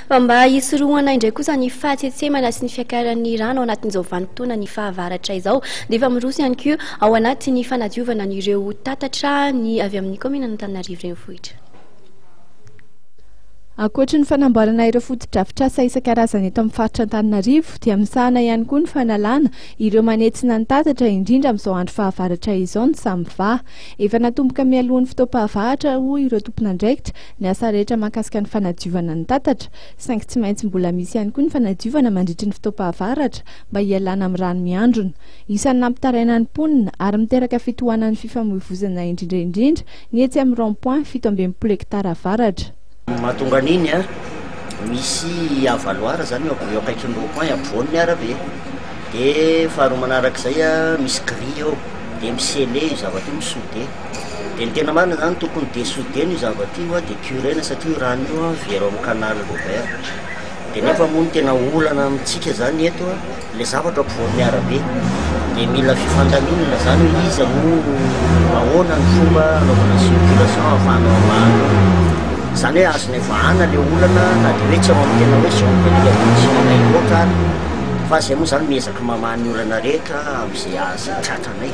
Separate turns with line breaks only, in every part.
Fa mba hisorohana indray kosa ny fahatsentsemana sy ny fiakaran'ny rano ao anatin'izao vanim-potoana ny fahavaratra izao dia efa miroso ihany koa ao anatin'ny fanadiovana an'ireo tatatra ny avy amin'ny kaominan'Antananarivo Renivohitra.
Ankoatry ny fanamboarana ireo fotodrafitrasa isan-karazany eto amin'ny faritra Antananarivo dia misahana ihany koa ny fanalana ireo manetsina ny tatatra indrindra amin'izao andro fahavaratra izao ny Samva. Efa natomboka mialohan'ny fotoam-pahavaratra hoy ireo tompon'andraikitra ny asa rehetra mahakasika ny fanadiovana ny tatatra, saingy tsy maintsy mbola misy ihany koa ny fanadiovana mandritry ny fotoam-pahavaratra mba hialana amin'ny rano miandrona. Isan'ny nampitaraina ny mponina ary miteraka fitohanan'ny fifamoivozana indrindra indrindra ny etsy amin'ny rond point fito amby enimpolo hekitara avaratra. Mahatonga an'iny
misy avaloir izany eo eo akaikin'ny rond point ampovoan'ny arabe. Dia faharoa manarak'izay misy grille eo dia mi-sceller io zavatra io, mi-souder. Dia ny tena marina zany tokony dessodena io zavatra io dia curena satria io rano io very ao amin'ny canal ouvert dia nefa moa ny tena olana amintsika zany eto le zavatra ampovoan'ny arabe dia mila fifandaminana zany hoe iza no ahoana ny fomba anaovana circulation ahafahana mivahana zany hoe azonay vahana le olana na dia hoe tsy ao amin'ny tena hoe zone de prédilection-nay loatra ary fa zay moa zany miezaka mamaha ny olana rehetra amin'izay azo tratranay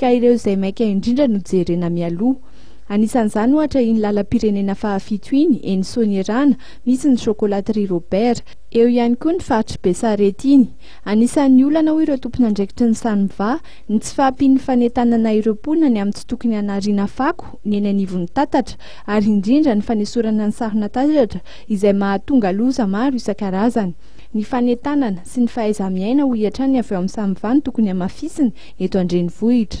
ka ireo izay maika indrindra no jerena mialoha. Anisan'izany ohatra iny lalam-pirenena fahafito iny, eny Soanierana, misy ny Chocolaterie Robert. Eo ihany koa ny faritr'i Besarety iny. Anisan'ny olana, hoy ireo tompon'andraikitry ny Sanva, ny tsy fahampian'ny fanentanana ireo mponina ny amin'ny tsy tokony hanariana fako ny eny anivon'ny tatatra, ary indrindra ny fanesorana ny sahona tatatra izay mahatonga loza maro isan-karazany. Ny fanentanana sy ny fahaiza-miaina hoy hatrany avy ao amin'ny samy và no tokony hamafisina eto an-drenivohitra.